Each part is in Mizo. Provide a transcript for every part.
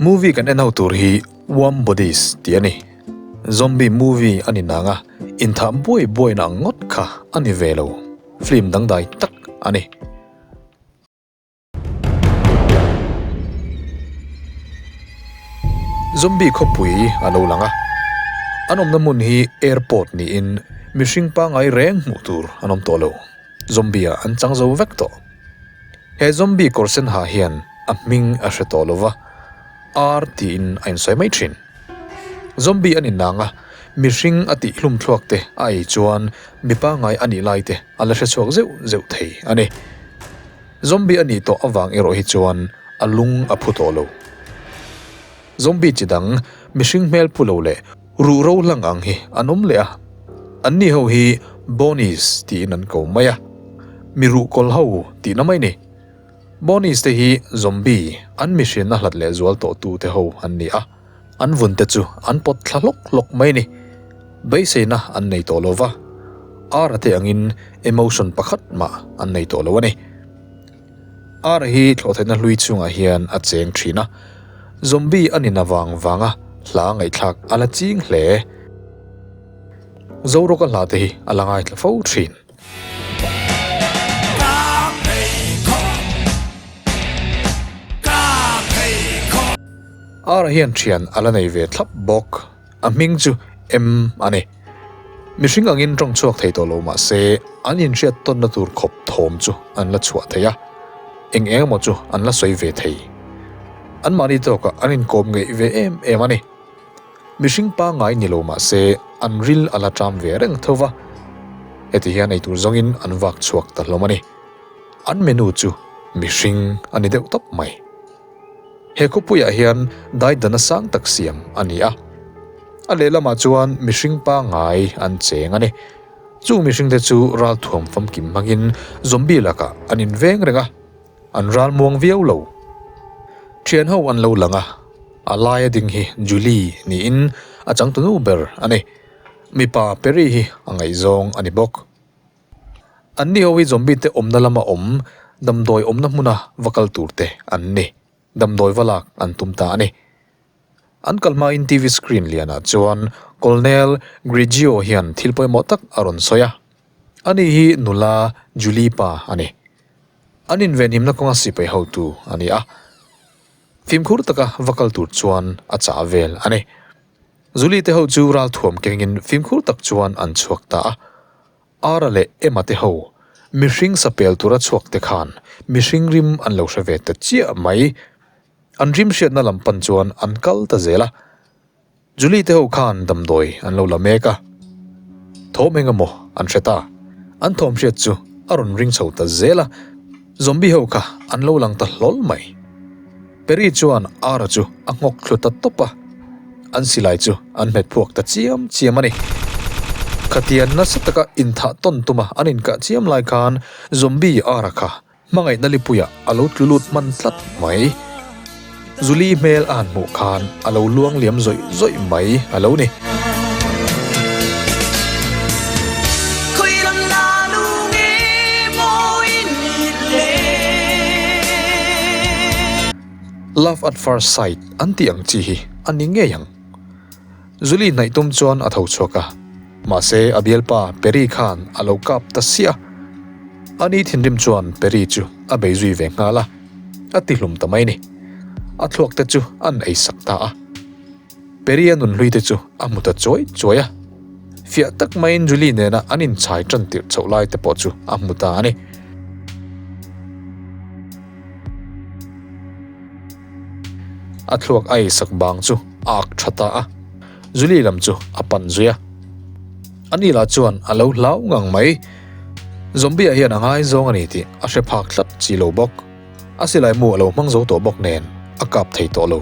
Movie kan enho tur hi Warm Bodies tih a ni. Zombie movie a ni nang a, inthah buai buaina ang ngawt kha a ni ve lo. Film dangdai tak a ni. Zombie khawpui a lo lang a, an awmna hmun hi airport niin mihring pangai reng hmuh tur an awm tawh lo. Zombie-ah an chang zo vek tawh. He zombie kawr sen ha hian a hming a hre tawh lova, ar tiin a insawi mai thin. Zombie a ninang a, mihring a tihhlumthluak te a ei chuan mi pangngai a nih lai te a la hre chhuak zeuh zeuh thei a ni. Zombie a nih tawh avang erawh hi chuan a lung a phu tawh lo. Zombie chi dang mihring hmel pu lo leh. Ruh ro hlang ang hi an awm leh a, an ni ho hi Bonies tiin an ko mai a, mi ruh kawl ho tihna mai ni. Bonies te hi Zombie an mihrinna hlat leh zual tawh tu te ho an ni a, an vun te chu an pawt thla hlawk hlawk mai ni. Beiseina an nei tawh lo va, ar a te angin emotion pakhat mah an nei tawh lo a ni. Ara hi thlawhtheihna hlui chungah hian a cheng thin a, zombie a nina vang vanga hla ngaihthlak a la ching hle. Zorawka hla te hi a la ngai tla fo thin. Ara hian thian a la nei ve thlap bawk. A hming chu M a ni. Mihring angin ṭawng chhuak thei tawh lo mah se, an inhriat tawnna tur khawp thawm chu an la chhuah thei a, eng eng emaw chu an la sawi ve thei. Anmahni tawkah an inkawm ngeih ve em em a ni. Mihring pangngai ni lo mah se, an ril a la ṭam ve reng tho va, heti hian eitur zawngin an vak chhuak ta hlawm a ni. An menu chu mihring a ni deuh tawp mai. He khawpuiah hian Daidana sang tak siam a ni a. A lehlamah chuan mihring pangngai an cheng a ni. Chung mihringte chu ralthuam famkim hmangin Zombie lakah an in veng reng a, an ral muang viau lo. Thian ho an lo lang a, a laia ding hi Julie niin a changtunu ber a ni. Mipa Perry hi a ngaihzawng a ni bawk. An ni ho hi zombie te awmna lama awm damdawi awmna hmuna va kal tur te an ni. Damdawi va lak an tum ta a ni. An kal hmain TV screen lianah chuan Colonel Grigio hian thil pawimawh tak a rawn sawi a. A ni hi nula Julie pa a ni. An invenhimna kawnga sipai hotu a ni a. Fimkhur taka va kal tur chuan a chah vel a ni. Zuli te ho chu ral thuam kengin fimkhur tak chuan an chhuak ta a. Ara leh Emma te ho mihring sapel tura chhuak te khan mihring rim an lo hre ve ta chiah mai. An rim hriatna lam pan chuan an kal ta zel a. Zuli te ho khan damdawi an lo la mek a. Thawm engemaw an hre ta. An thawm hriat chu a rawn ring chho ta zel a. Zombie ho kha an lo lang ta hlawl mai. Perry chuan Ara chu a nghawk thlu ta tawp a, an silai chu an hmet phuak ta chiam chiam a ni. Khatian nasa taka inthah tawn tuma an inkah chiam lai khan Zombie Ara kha hmangaihna lipuiah a lo tlu lut hman tlat mai. Zuli hmel a han hmuh khan a lo luang liam zawih zawih mai a lo ni. Love at first sight an tih ang chi hi a ni ngei ang. Zuli hnaih tum chuan a tho chhuak a, mahse a bialpa Perry khan a lo kap ta sia. Ani thinrim chuan Perry chu a bei zui ve nghal a, a ti hlum ta mai ni. A thluak te chu an ei sak ta a. Perry-a nun hlui te chu a hmu ta chuai chuai a. Fiah tak maiin Zuli nena an inchhai tan tirh chhoh lai te pawh chu a hmu ta a ni. A thluak ai sak bang chu a ak tha ta a, Julie lam chu a pan zui a. A ni lah chuan a lo hlau ngang mai. Zombie-a hian a ngai zawng a ni tih a hre phak tlat chi lo bawk. A silai mu a lo hmang zo tawh bawk nen a kap thei tawh lo.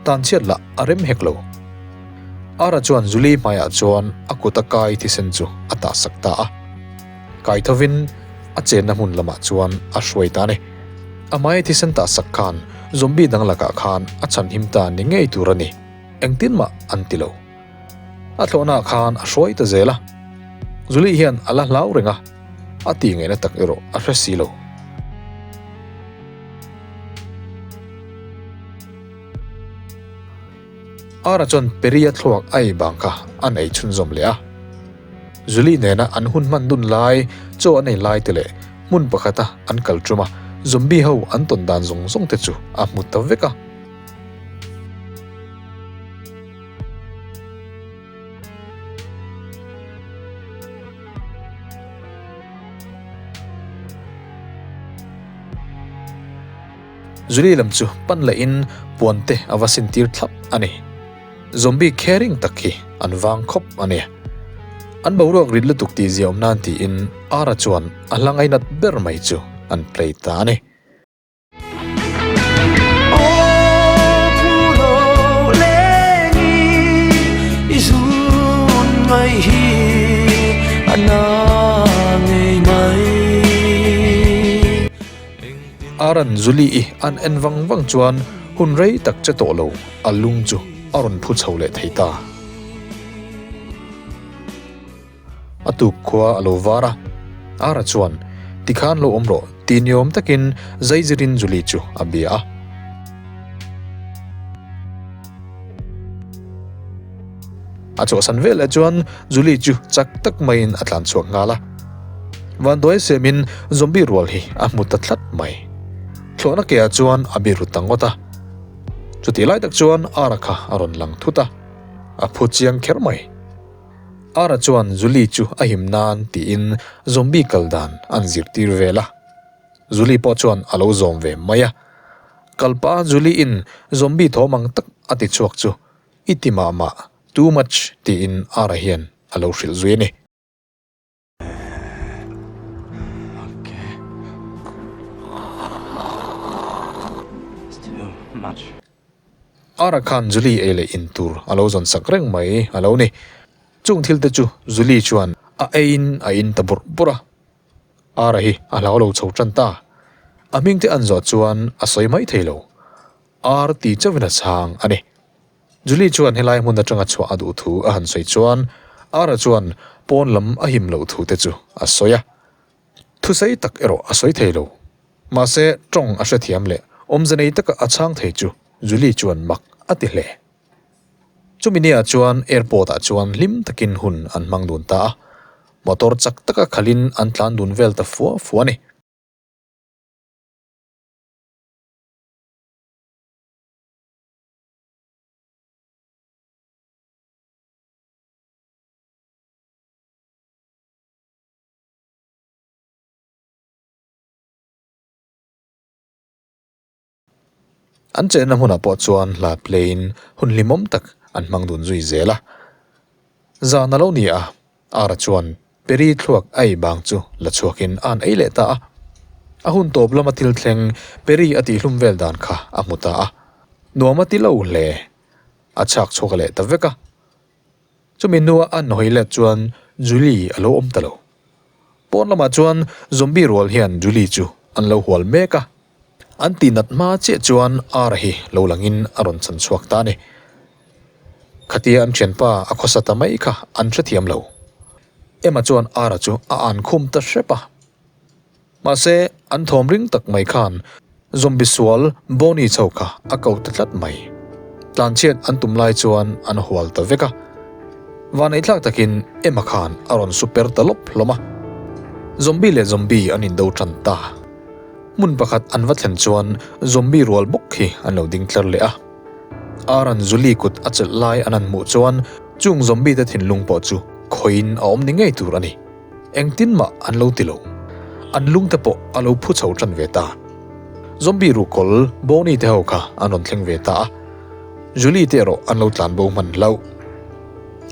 Tan chhiat lah a rem hek lo. Ara chuan Julie hmaiah chuan a kut a kai thisen chu a tahsak ta a. Kai thovin a chenna hmun lamah chuan a hruai ta ni. Amai thisen ta sak khan zombie dang lakah khan a chhanhim ta ni ngei tur a ni. Engtin mah an ti lo. A thlawhnaah khan a hruai ta zel a. Julie hian a la hlau reng a, a ti ngaihna tak erawh a hre si lo. Ara chuan Peri a thluak ai bang kha an ei chhunzawm leh a. Zuli nena an hun hman dun lai, chaw a nei lai te leh hmun pakhata an kal ṭum a, zombie ho an tawn dan zawng zawng te chu a hmu ta vek a. Zuli lam chu pan leh in puan te a va sin tir thlap a ni. Zombie khe ring tak hi an vang khawp a ni. An boruak rit lutuk tih zia awm nan tiin Ara chuan a hlangai nat ber mai chu an play ta a ni. A rawn zuli i an en vang vang chuan hun rei tak che tawh lo a lung chu a rawn phu chho leh thei ta. A tuk khua a lo var a, Ara chuan, Ti khan lo awm rawh, ti ni awm takin zaizirin Zuli chu a bia a. A chawhsan vel leh chuan Julie chu chak tak maiin a tlan chhuak nghal a. Vanduai semin zombie rual hi a hmu ta tlat mai. Thlawhna ke ah chuan a biru ta ngawt a. Chutih lai tak chuan Ara kha a rawn lang thut a. A phu chiang kher mai. Ara chuan Julie chu a him nan tiin zombie kal dan an zirtir vel a. Julie pawh chuan a lo zawm ve mai a. Kalpa Julie-in zombie thawm ang tak a ti chhuak chu I ti mah mah, too much tiin Ara hian a lo hrilh zui a ni. Ara khan Julie ei leh in tur a lo zawn sak reng mai a lo ni. Chung thil te chu Julie chuan a eiin a in ta burh burh a. Ara hi a hlau lo chho tan ta. A hming te an zawh chuan a sawi mai thei lo. Ar ti chauhin a chhang a ni. Julie chuan helai hmun atanga chhuah a duh thu a han sawi chuan Ar-a chuan pawn lam a him loh thu te chu a sawi a. Thusei tak erawh a sawi thei lo. Mahse, tawng a hrethiam leh awmze nei taka a chhang thei chu Julie chuan mak a ti hle. Chumi ni ah chuan airport ah chuan hlim takin hun an hmang dun ta a. Motor chak taka khalhin an tlan dun vel ta fuah fuah a ni. An chenna hmunah pawh chuan hla pleiin hun hlimawm tak an hmang dun zui zel a, zan a lo ni a, Ara chuan Peri thluak ai bang chu la chhuakin a han ei leh ta a. A hun tawp lama thil thleng Peri a tih hlum vel dan kha a hmu ta a. Nuam a ti lo hle. A chhak chhuak leh ta vek a. Chumi hnuah a nawi let chuan Juli a lo awm ta lo. Pawn lamah chuan zombie rual hian Juli chu an lo hual mek a. An tih nat hma chiah chuan ar hi lo langin a rawn chhan chhuak ta a ni. Khatia an thianpa a khawsa ta mai kha an hre thiam lo. Emma chuan ar-a chu a an khum ta hrep a. Mahse, an thawm ring tak mai khan zombie sual Bonnie chho kha a ko ta tlat mai. Tlanchhiat an tum lai chuan an hual ta vek a. Vaneitlak takin Emma khan a rawn super ta lawp hlawm a. Zombie leh zombie an indo tan ta. Hmun pakhat an va thlen chuan zombie rual bawk hi an lo ding tlar leh a. Aaron Zuli kut a chelh lai an han hmuh chuan chung zombie te thinlung pawh chu khawiin a awm ni ngei tur a ni. Engtin mah an lo ti lo. An lungte pawh a lo phu chho ṭan ve ta. Zombie ru kawl Bonnie te ho kha an rawn thleng ve ta a. Zuli te erawh an lo tlan bo hman hlauh.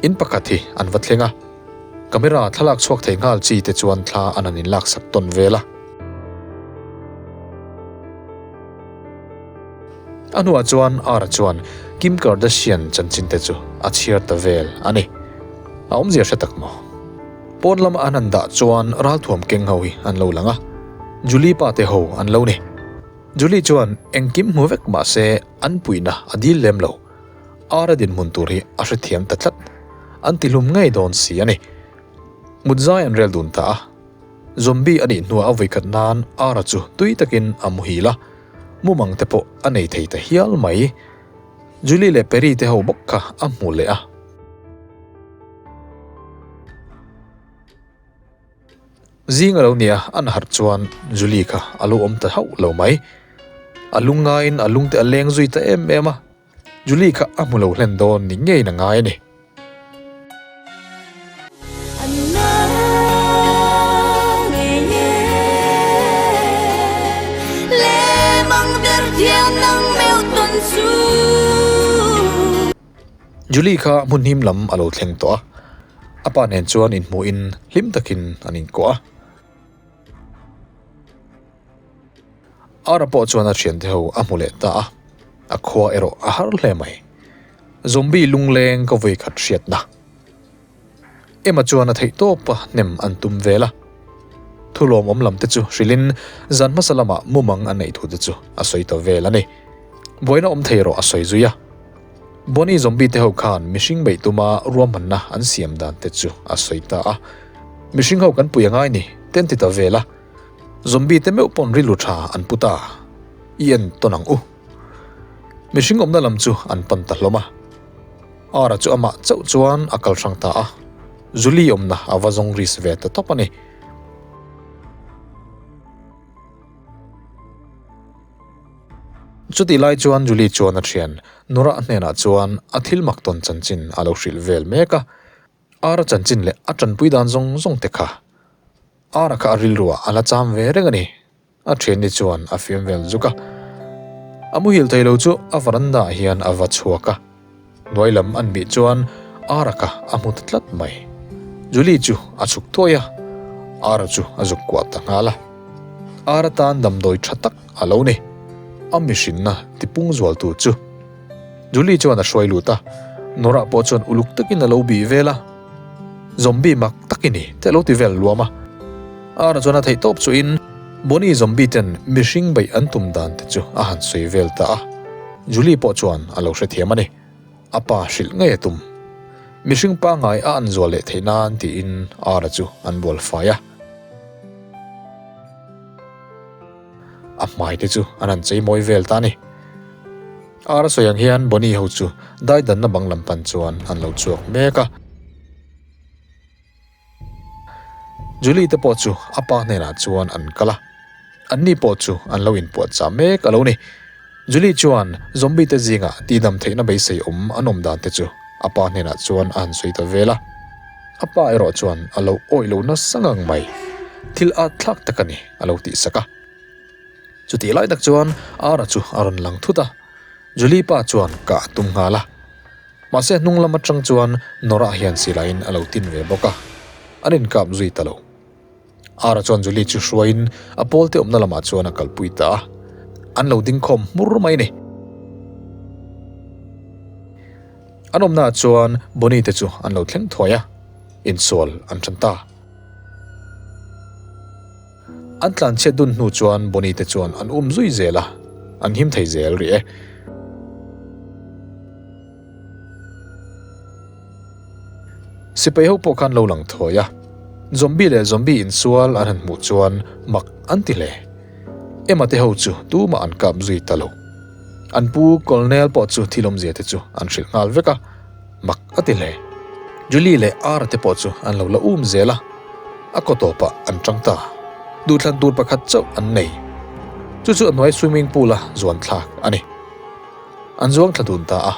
In pakhat hi an va thleng a. Camera thlalak chhuak thei nghal chi te chuan thla an han in laksak tawn vel a. A hnuah chuan Ara chuan Kim Kardashian chanchinte chu a chhiar ta vel a ni. A awmzia hre tak maw? Pawn lama an han dah chuan ralthuam keng ho hi an lo lang a, Julie pa te ho an lo ni. Julie chuan engkim hmu vek mah se an puihna a dil lem lo. Ara dinhmun tur hi a hrethiam ta tlat. An tihlum ngei dawn si a ni. Hmutzai an rel dun ta a. Zombie a nih hnuah a vawiikhat nan Ara chu tui takin a muhil a, mumang te pawh a nei thei ta hial mai. Julie leh Perry te ho bawk kha a hmu leh a. Zing a lo nia an harh chuan Julie kha a lo awm ta hauh lo mai. A lungaiin a lungte a leng zui ta em em a. Julie kha a hmu lo hlen dawn ni ngeiin a ngai a ni. Julie kha hmun him lam a lo thleng tawh a, a pa nen chuan inhmuhin hlim takin an inkuah a. Ara pawh chuan a thiante ho a hmu leh ta a, a khua erawh a har hle mai. Zombie lungleng ka vawi khat hriat na. Emma chuan a theih tawp a hnem an tum vel a. Thulawm awm lam te chu hrilhin zan hmasa lama mumang a neih thu te chu a sawi ta vel a ni. Buaina awm thei erawh a sawi zui a. Bonnie zombie te ho khan mihring beih tuma ruahmanna an siam dan te chu a sawi ta a. Mihring ho kan puih a ngai ni ten ti ta vel a. Zombie te meuh pawn rilru tha an put a, i en tawn ang u. Mihring awmna lam chu an pan ta hlawm a. Ara chu amah chauh chuan a kal hrang ta a, Zuli awmna a va zawng ris ve ta tawp a ni. Chutih lai chuan Zuli chuan a thian Nora hnenah chuan a thil mak tawn chanchin a lo hrilh vel mek a. Ara chanchin leh a tanpui dan zawng zawng te kha Ara kha a rilruah a la cham ve reng a ni. A thianni chuan a fiam vel zuk a. A muhil thei lo chu a varanda ah hian a va chhuak a. Hnuai lam an bih chuan Ara kha a hmu ta tlat mai. Julie chu a chhuk thuai a. Ara chu a zuk kuah ta nghal a. Ara tan damdawi tha tak a lo ni. A mihrinna tipung zual tur chu. Julie chuan a hruai lut a, Nora pawh chuan uluk takin a lo bih vel a, Zombie mak tak i ni, te a lo ti vel luam a. Ara chuan a theih tawp chuin Bonnie zombie ten mihring beih an tum dan te chu a han sawi vel ta a. Julie pawh chuan a lo hrethiam a ni, a pa hrilh ngei a tum. Mihring pangngai a an zual leh theih nan tiin Ara chu an bual fai a. A hmai te chu an han chei mawi vel ta a ni. Ara sawi ang hian Bonnie ho chu daidanna bang lam pan chuan an lo chhuak mek a. Julie te pawh chu a pa hnenah chuan an kal a. Anni pawh chu an lo inpuahchah mek a lo ni. Julie chuan, Zombie te zingah tihnam theihna beisei awm an awm dan te chu a pa hnenah chuan a han sawi ta vel a, a pa erawh chuan a lo awih loh nasa ngang mai. Thil at thlak tak a ni, a lo tih sak a. Chutih lai tak chuan Ara chu a rawn lang thut a, Julie pa chuan kah a tum nghal a. Mahse hnunglam atang chuan Nora hian silaiin a lo tin ve bawk a, an inkap zui ta lo. Ara chuan Julie chu hruaiin a pawlte awmna lamah chuan a kalpui ta a, An lo ding khawm hmur mai ni. An awmnaah chuan Bonnie te chu an lo thleng thuai a, insual an ṭhan ta. An tlan chhiat dun hnu chuan Bonnie te chuan an um zui zel a, an him thei zel ri e. Sipai ho pawh khan lo lang thawi a, zombie leh zombie insual an han hmuh chuan mak an ti hle. Emma te ho chu tumah an kap zui ta lo. An pu Colonel pawh chu thi lawmzia te chu an hrilh nghal vek a, mak a ti hle. Julie leh Ara te pawh chu an lo la um zel a, a kaw tawpah an chang ta. Duhthlan tur pakhat chauh an nei. Chu chu a hnuai swimming pool a zuan thlak a ni. An zuang thla dun ta a.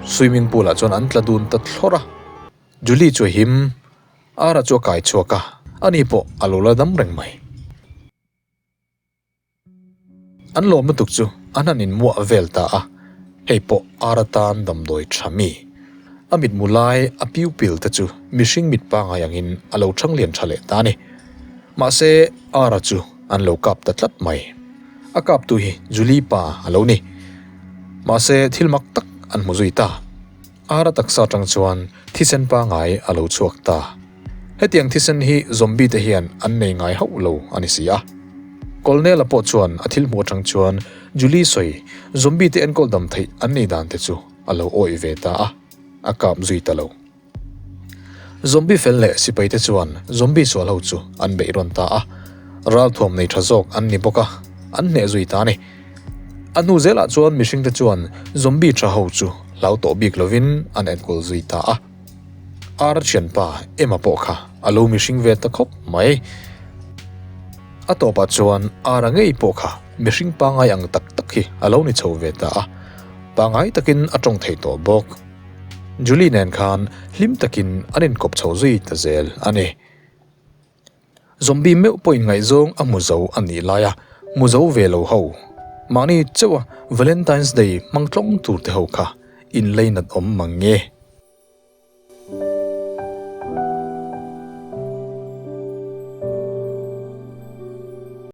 Swimming pool ah chuan an tla dun ta thlawr a. Julie chu a him. Ara chu a kai chhuak a. Ani pawh a lo la dam reng mai. An lawm lutuk chu a hnanin muah vel ta a. Hei pawh ar atan damdawi tha mi? A mit mu lai a pupil te chu mihring mit pangai angin a lo changlian tha leh ta a ni. Mahse ar-a chu an lo kap ta tlat mai. A kaptu hi Julie pa a lo ni. Mahse thil mak tak an hmu zui ta. Ara taksa atang chuan thisen pangai a lo chhuak ta. Hetiang thisen hi zombie te hian an nei ngai hauh lo a ni si a. Colonel-a pawh chuan a thil hmuh atang chuan Julie sawi zombie te enkawl dam theih an nei dan te chu a lo awih ve ta a, a kap zui ta lo. Zombie fel leh sipai te chuan zombie sual ho chu an beih rawn ta a, ral thuam nei tha zawk an ni bawk a, an hneh zui ta a ni. A hnu zelah chuan mihringte chuan zombie tha ho chu hlau tawh bik lovin an enkawl zui ta a. Ar thianpa Emma pawh kha a lo mihring ve ta khawp mai. A tawpah chuan Ara ngei pawh kha mihring pangai ang tak tak hi a lo ni chho ve ta a. Pangai takin a tawng thei tawh bawk. Julie nen khan hlim takin an inkawp chho zui ta zel a ni. Zombie meuh pawhin ngaihzawng a muzo a nih lai a, muzo ve lo ho. Mahni chauh a Valentine's Day hmang tlawng tur te ho kha inlei nat awm mang nge.